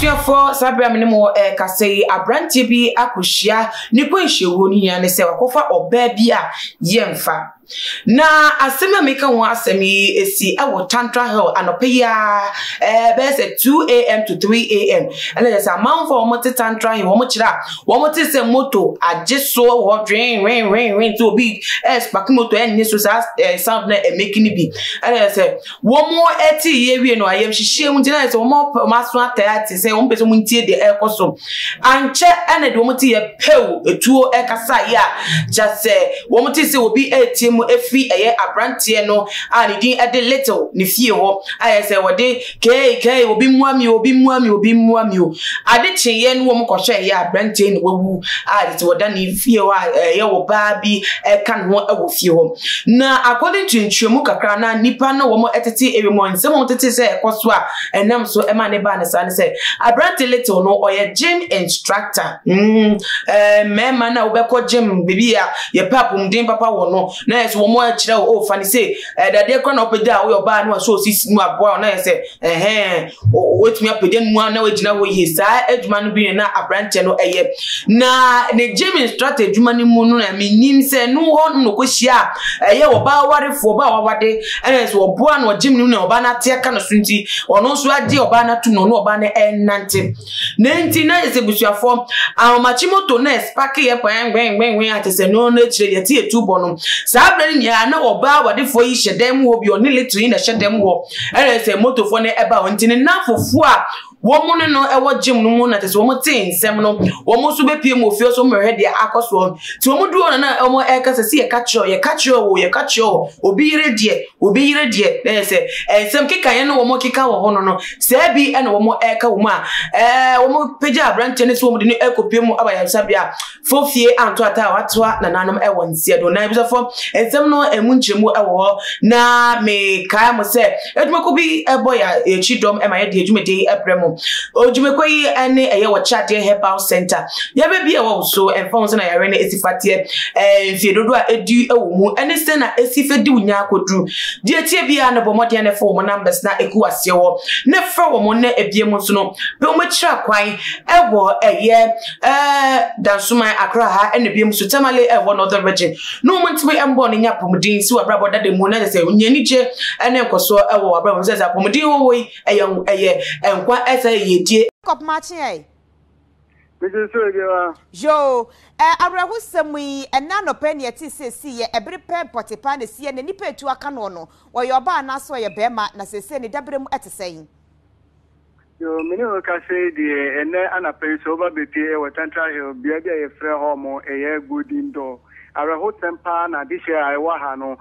abusuafoɔ saa berɛ a me ne mo ɛrekasa yi aberanteɛ bi akɔhyia ne kwanhyia wuo ne hia ne sɛ wakɔfa ɔbaa bi a yɛmfa Na asɛm yi a meka ho asɛm yi si wɔ Tantra Hill anɔpa yi ara ɛɛ bɛyɛ sɛ 2am to 3am ɛna yɛ sɛ amanfo a wɔte Tantra Hill wɔn kyerɛ a wɔn te sɛ moto agye so wɔ hɔ dwen wen wen wen nti obi ɛɛ spaki moto ɛnne so saa ɛɛ sound na ɛmɛki ne bi ɛna yɛ sɛ Wɔn ɛte yɛ wie no ayamhyehyeɛ mu nti na sɛ wɔn ɔpɛ wɔn aso atɛ ate sɛ wɔn pɛ sɛ wɔn ntie deɛ ɛrekɔ so ankyɛ ɛna deɛ wɔn te yɛ pɛw etuo ɛkasa yɛ a kyɛ sɛ wɔn te sɛ obi ɛretie mu efi ɛyɛ aberanteɛ no a ne din ɛde little ne fie hɔ ayɛ sɛ wɔde kɛɛ kɛɛ obi mua mi obi mua mi obi mua mi o ade kyeeɛ no wɔn kɔhwɛ ɛyɛ aberanteɛ na wawu a yɛ sɛ wɔda ne fie hɔ a ɛyɛ wɔ baa bi ɛka ne ho ɛwɔ fie hɔ Na according to nkyerɛmu kakra a na nnipa ne wɔn tete ewiem hɔ nsɛm a wɔtetee sɛ ɛkɔ so a ɛnam so ma ne baa ne saa ne sɛ aberante Little no ɔyɛ gym instructor mm ɛɛ mmarima no a wɔbɛkɔ gym baabi a yɛpɛ apɔmuden papa wɔ no na yɛ sɛ wɔn akyerɛ o fa ne sɛ ɛdadeɛ kora na wɔpɛ gya a woyɛ ɔbaa no a sɛ ɔsisi mu aboa na yɛ sɛ ɛhɛn Watumi apagya ne mu a na wagyina hɔ yie saa adwuma no bi yɛ na aberanteɛ no ɛyɛ na ne gyem instructor adwuma no mu no na menim sɛ no hɔ nom na ɔkɔhyia a ɛyɛ ɔbaa warefoɔ ɔbaa wawade ɛna sɛ ɔboa no ɔgyem no na ɔbaa no ate aka no so nti ɔno nso agye ɔbaa no atom na ɔne ɔbaa no ɛnante na nti na yɛ sɛ busuafoɔ ahomakye moto na ɛspake yɛ kwɛnkwɛnkwɛnkwɛn ate sɛ no no akyire yɛte yɛtu bɔ no saa berɛ no nyinaa na ɔbaa wadefoɔ yi hyɛ dan mu hɔ bi ɔne little yi na ɛhyɛ dan mu hɔ Ɛna sɛ motofoɔ no ɛba hɔ nti ne nnamfofoɔ a wɔn ne no ɛwɔ gyem no mu na kyɛ sɛ wɔn te nsɛm no wɔn nso bɛpie mu ofie so wɔn deɛ akɔ soɔ nti wɔn duro no na wɔn ɛka sɛ si yɛka kyerɛ yɛka kyerɛ o yɛka kyerɛ o obi yere deɛ obi yere deɛ na yɛ sɛ nsɛm keka yɛn no wɔn keka wɔ hɔ no no sɛ bi ɛna wɔn ɛka wɔn a ɛɛ wɔn pagya aberanteɛ no sɛ wɔn de no ɛkɔ pie mu aba yɛn nsa bia fo fie anto ata a watoa nananom wɔ nseɛ do na abusafo nsɛm no ɛmu nkyerɛmu wɔ hɔ na mekae mo sɛ adwumako bi ɛbɔ yɛ akyi dɔm ɛma yɛde adwumadi yi ɛbrɛ mo odwumako yi ɛne ɛyɛ wɔ kyadeɛ herbal center yɛbɛbi ɛwɔ wo so ɛmfa ho sɛ na yɛre no ɛsi fateɛ ɛɛ mfie dodo a ɛdi ɛwɔ mu ɛne sɛ na ɛsi fɛ di wo nyaa koduru deɛ tie biara no bɔ mmɔden ne fa wɔn numbers na ɛku aseɛ wɔ ne frɛ wɔn na ebie mu nso no bɛ wɔn akyira kwan ɛwɔ ɛyɛ ɛɛ Dansoman, Accra ha ɛna biom so Tamale ɛwɔ Northern Region. No wɔn ntumi ɛmbɔ ne nya apɔmuden si w'abrabɔ dada mu na kyerɛ sɛ nya anigye ɛne nkɔsoɔ ɛwɔ w'abrabɔ mu sɛ sɛ apɔmuden wɔwɔ yi ɛyɛ ɛyɛ nkwa ɛsɛ yiedie. Jacob Makye ɛ? Mese so ebia wa. Yoo, ɛɛ awerɛhosɛm yi, ɛnnɛ anɔpa yi na yɛtee sɛ esiiɛ, ɛbere pɛɛ Potiphar na esiiɛ, na nnipa a etu aka noɔ no, ɔyɛ ɔbaa anaasɛ ɔyɛ barima, na seesei ne dabere mu ɛte sɛn? Yoo, me ne wo rekasa yi deɛ, ɛnnɛ anapa yi sɛ woba bɛpue wɔ Central Hill, bea bi a yɛfrɛ hɔ mo ɛyɛ Golden Door. Awerɛhosɛm paa na adehyeɛ a ɛwɔ ha no,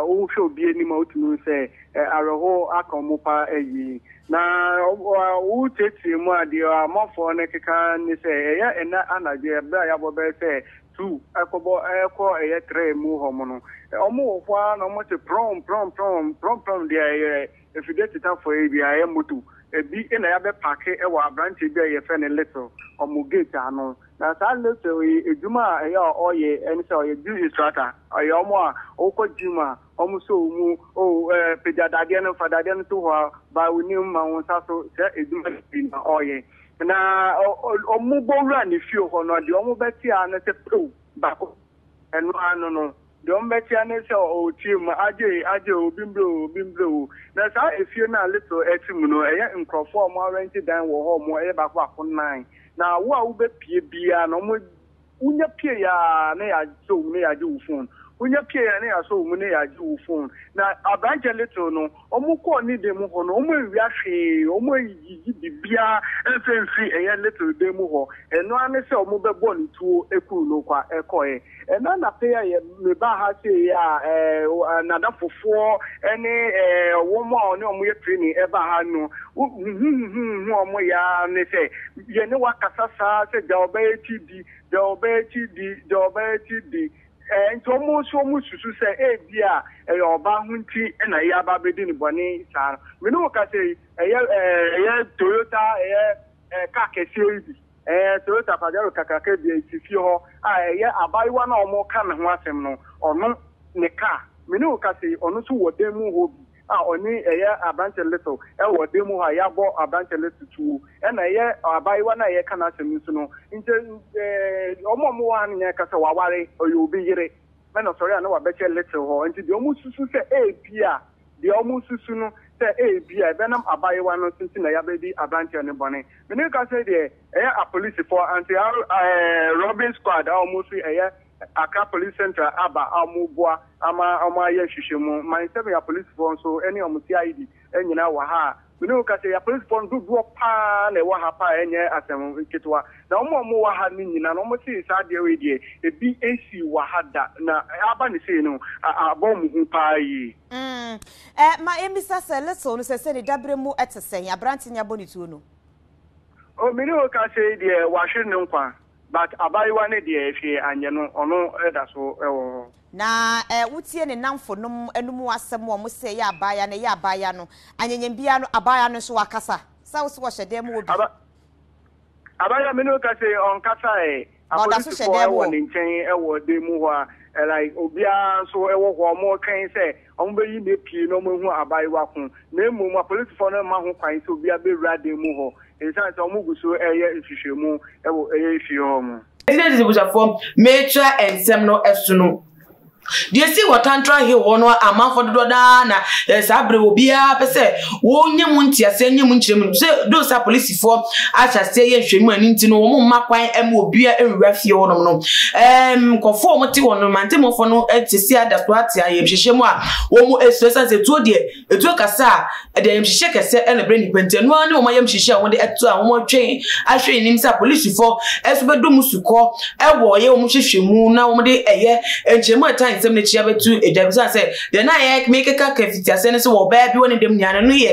wo hwɛ obi anim a wotumi hu sɛ awerɛho aka wɔn pa ayi. Na wo tiatia mu a, deɛ amanfoɔ no keka ne sɛ ɛyɛ ɛnnɛ anadwo berɛ a yɛabɔ bɛyɛ sɛ two ɛkɔbɔ ɛkɔ ɛyɛ three mu hɔ mo no, wɔn wɔ hɔ ara na wɔte prɔm prɔm prɔm, prɔm prɔm deɛ ɛyɛ. afide tetafo yi deɛ ɛyɛ motor. Ɛbi na yɛabɛ paake wɔ abranteɛ bi a yɛfrɛ no Little wɔn gate ano. Na saa Little yi adwuma a ɛyɛ a ɔyɛ ɛne sɛ ɔyɛ gym instructor. Ɔyɛ wɔn a wokɔ gym a wɔn sɔ wo mu oh eh pagya dadeɛ no fa dadeɛ no to hɔ a bae wo nim ma wo nsa so saa adwuma no bi na ɔyɛ. Na wɔn bɔ wura ne fie hɔ no deɛ wɔn bɛte ara ne sɛ pow baako ɛno ara no no. Deɛ wɔbɛtea ne sɛ, Oo team, agye e, agye o, obi mbrɛ o, obi mbrɛ o. Na saa efie no a Little ɛte mu no, ɛyɛ nkorɔfoɔ a wɔarɛnte dan wɔ hɔ, wɔyɛ baako baako nnan. Na wo a wobɛpue biara no, wɔn, wonya pueeɛ ara na yɛasɔ wo mu na yɛagye wo phone, wonya pueeɛ ara na yɛasɔ wo mu na yɛagye wo phone. Na aberanteɛ Little no, Wɔkɔɔ ne dan mu hɔ no, wɔanwia hwee, wɔanyigyigye biribiara mfa mfiri ɛyɛ Little dan mu hɔ, ɛno ara ne sɛ wɔbɛbɔɔ no tuo kuu no kwa kɔeɛ. Ɛna anapɛ a yɛ mebaa ha sei a, ɛɛ, n'adafofoɔ ne ɛɛ, wɔn a ɔne wɔn yɛ training ɛbaa ha no, huhuhuhuhu a wɔyɛ ara ne sɛ, yɛne wo akasa saa sɛ Dawaba Akyidi, Dawaba Akyidi, Dawaba Akyidi, Enti wɔn nso wɔsusu sɛ ebia ɛyɛ ɔbaa ho nti na eyi aba abedi no bɔne saa no. Me ne wo kasa yi, ɛyɛ ɛyɛ Toyota ɛyɛ car kɛseɛ yi bi, ɛɛ Toyota Pajero kakraka bi a esi fie hɔ a ɛyɛ abaayewa no a wɔka ne ho asɛm no, ɔno ne car. Me ne wo kasa yi, ɔno nso wɔ dan mu hɔ bi. a ɔne ɛyɛ aberanteɛ little ɛwɔ ɔdan mu hɔ a yɛabɔ aberanteɛ little tuo ɛna ɛyɛ abaayewa no a yɛreka n'asɛm nso no nkyɛ ɛɛ wɔn a wɔwɔ ha no nyinaa ka sɛ waware ɔyɛ obi yere ɛna ɔsɔre a na wabɛhyɛ little hɔ nti deɛ wɔn susu sɛ ebia deɛ wɔn susu no sɛ ebia ɛbɛnam abaayewa no so nti na yɛabɛdi aberanteɛ no bɔne me ne ka sɛ deɛ ɛyɛ apolisifoɔ anti ɛɛ robbing squad a wɔn fi ɛyɛ Accra Police Central aba a wɔreboa ama wɔayɛ nhwehwɛmu. Man Nsɛmua Polisifoɔ nso ne wɔn CID nyinaa wɔ ha a me ne wo kasa yi, apolisifoɔ no dodoɔ pa ara na ɛwɔ ha pa a ɛnyɛ asɛm ketewa. Na wɔn a wɔwɔ ha no nyinaa no, wɔse saa adeɛ wei deɛ, ebi nsii wɔ ha da, na aba no sei no, abɔ wɔn hu pa ara yie. Mm, eh, ma yɛmmisa sɛ Little no sɛsɛ ne daberɛ mu te sɛn, aberante ni abɔ ne tuo no? Oh, me ne wo kasa yi deɛ, wahwere ne nkwa. But abaayewa no deɛ hwee anyɛ no, ɔno da so wɔ hɔ. Na eh wotie ne nnamfo nom anom asɛm a wɔse ɛyɛ abaayewa no, ɛyɛ abaayewa no, anyanyam biara no abaayewa no nso wakasa, sɛ wose ɔhyɛ dan mu wɔ bi. Aba abaayewa me ne wo ka se ɔnkasa ɛ, Na ɔda so hyɛ apolisifoɔ dan mu wɔ wɔ. ne nkyɛn wɔ dan mu hɔ a, like obiara nso wɔ hɔ a wɔtwɛn sɛ. wɔbɛyi no apue na wɔahu abaayewa ko, na mmom apolisifo no mma ho kwan sɛ obiara bɛwura dan mu hɔ esiane sɛ wɔgu so reyɛ nhwehwɛmu wɔ fie hɔ no. Enti na ɛsɛ sɛ abusuafoɔ metra nsɛm no so no. Deɛ ɛsii wɔ Tantra Hill hɔ no amanfoɔ dodoɔ no ara na saa berɛ obiara pɛ sɛ wɔnya mu nteaseɛ, nya mu nkyerɛmu, sɛ though sɛ apolisi. Apolisifoɔ ahyɛ aseɛ yɛ nhwɛmu a ɛno nti no wɔn mma kwan ma obiara nwura fie hɔnom no. Ɛɛm nkurɔfoɔ a wɔte hɔ no mantemmufoɔ no te se ada so ate ayamhyehyɛ mu a wɔsuro ɛsiane sɛ tuo deɛ etuo kasa a ɛde ayamhyehyɛ kɛsɛ na ɛbrɛ nnipa nti ɛno ara ne wɔn ayamhyehyɛ a wɔde ɛto a wɔtwɛn ahwɛ anim sɛ apolisifoɔ ɛso bɛdɔ mu sukɔ ɛwɔ yɛ wɔn hwehwɛ mu na wɔde ɛyɛ nkyɛnmu a ɛtan nsɛm no akyi abɛtu adwa bi sane sɛ deɛ na yɛ mekeka ka fiti aseɛ no sɛ wɔ ɔbaa bi wɔ ne dɛm nyinaa no no yɛ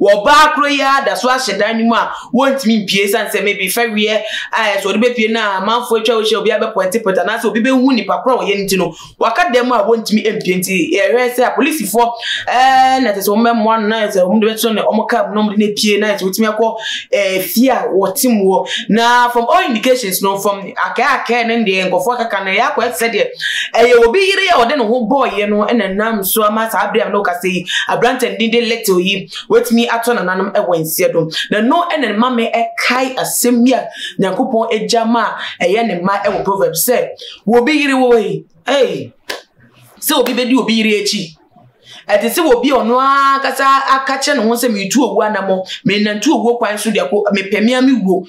wɔ ɔbaa koro yi ara da so ahyɛ dan no mu a wɔntumi mpue ɛsiane sɛ maybe fɛreɛ a ɛsɛ wɔde bɛpue no a amanfoɔ atwa wo hyɛ obi abɛpɔntepɔnte anaasɛ obi bɛhu nipa koro a wɔyɛ no nti no waka dan mu a wɔntumi mpue nti ɛhwɛ sɛ apolisifoɔ ɛɛ na ɛsɛ sɛ wɔmmɛmmoa no na ɛsɛ sɛ wɔde bɛtena ne wɔn kaa mu na wɔde no apue na ɛsɛ wɔtumi akɔ ɛɛ fie a wɔte mu hɔ na from all indications no from Akɛakɛɛ no deɛ nkurɔfoɔ kaka no, ɛyɛ akɔyɛ te sɛ deɛ ɛyɛ obi yere a ɔde ne ho bɔɔyɛ no na nam so ama saa bere a na ɔkasa yi aberanteɛ no din de Little yi watumi atɔ nananom wɔ nseɛ do na no na ne ma me ɛkae asɛm bi a Nyankopɔn agya ma ɛyɛ ne ma ɛwɔ Proverbs sɛ obi yere wɔ yi ei sɛ obi bɛdi obi yere akyi Ɛte sɛ obi a ɔno ankasa aka kyerɛ ne ho sɛ meretu owu anammɔn, merenantu owuo kwan so de akɔ, mepɛ me ara me wuo.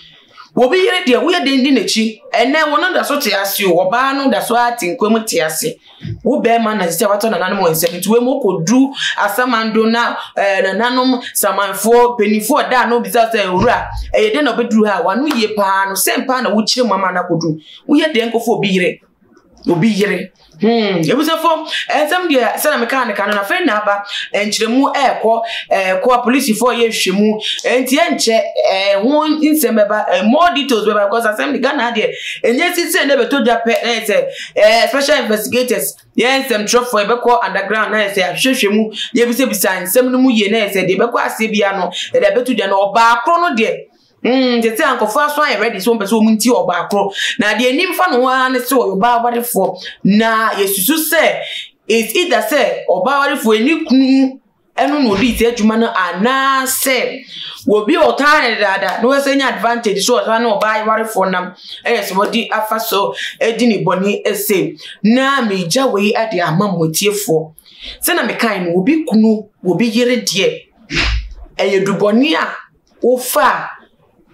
Obi yere deɛ, woyɛ dɛn di n'akyi? Ɛnnɛ wɔn da so te ase o, ɔbaa no da so ara te nkwa mu te ase. Wo barima na ɛsɛ sɛ watɔ nananom wɔn nsam. Nti wei mu kɔduru asamando na ɛɛ eh, nananom samanfoɔ mpanimfoɔ ɔda ano bisa sɛ owura ɛyɛ dɛn na ɔbɛduru ha? Wano yie paa no sɛn paa na wokyerɛ mu ama no akɔduru? Woyɛ dɛn kɔfa obi yere? obi yere hmm ebusafo ɛnsɛm deɛ sɛnɛ mi kaa ne ka no na fɛn na aba nkyerɛmu ɛɛkɔ ɛɛkɔ apolisifo yɛ nhwɛmu nti ɛnkyɛ ɛɛ ho nsɛm bɛba ɛɛ more details bɛba because asɛm de ghana deɛ ɛnyɛ sisi ɛnɛ bɛtɔ dwa pɛ ɛyɛ sɛ ɛɛ special investigators yɛ nsɛmtwerɛfoɔ yɛbɛkɔ underground na yɛ sɛ ahwehwɛ mu yɛbisabisa nsɛm no mu yie na yɛ sɛ deɛ bɛkɔ aseɛ bia no ɛde abɛto dwa no ɔbaakoro no deɛ Mm, te sɛ ankɔfo aso ayɛ ready sɛ wɔmpɛ sɛ wɔn nti ɔbaa koro. Na deɛ anim fa no ho ara ne sɛ ɔyɛ ɔbaa awarefoɔ. Na yɛsusu sɛ it's either sɛ ɔbaa awarefoɔ ne kunu ɛno na ɔdi sɛ adwuma no anaasɛ obi a ɔtaa ne dada na wɔsɛ nya advantage so ɔtaa ne ɔbaa awarefoɔ nam ɛyɛ sɛ wɔde afa so adi ne bɔne ɛsɛ na megya wei ade ama mo atiefoɔ sɛ na mekae no obi kunu obi yere deɛ ɛyɛ dubɔne a wofa a,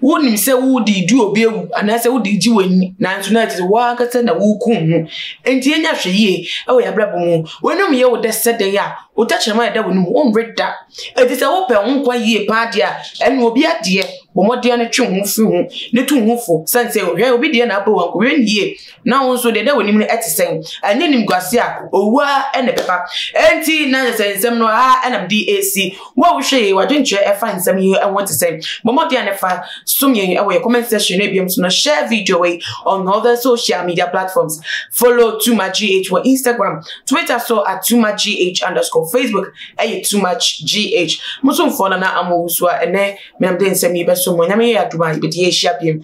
wonim sɛ wode redi obi awu anaasɛ wode regye w'ani nanso na ɛte sɛ w'ankasa na worekum ho. Enti yɛnyɛ ahwɛ yie wɔ yɛn abrabɔ mu. W'anom yɛ wo dɛ sɛ dɛn a wo tɛkyerɛma a ɛda w'anom wonwe da. Enti sɛ wopɛ wo nkwa yie paa deɛ a, ɛnneɛ obi adeɛ bɔ mmɔden ara twe wo ho firi ho na tu wo ho fo sane sɛ hwɛ obi deɛ na abɔ wo a nkɔhwɛ no yie Na wo nso deɛ na w'anim no ɛte sɛn? Ɛnyɛ nimguase a owu a ɛna ɛbɛba. Ɛnti na yɛ sɛ nsɛm no a ɛna mede ɛsi. Wo a wohwɛ yɛ wadwenkyerɛ ɛfa nsɛm yi ɛho ɛte sɛn? Bɔmmɔden a nɛfa som yɛn ɛwɔ yɛ comment section no ebiam so na share video wei on all the social media platforms. Follow too much GH wɔ Instagram, Twitter so at too much GH underscore Facebook ɛyɛ too much GH. Mosomfoɔ nana amohusu a ɛnɛ menam de nsɛm yi bɛso mo nyame yɛ adom a yɛbɛdi yɛ ahyia biam.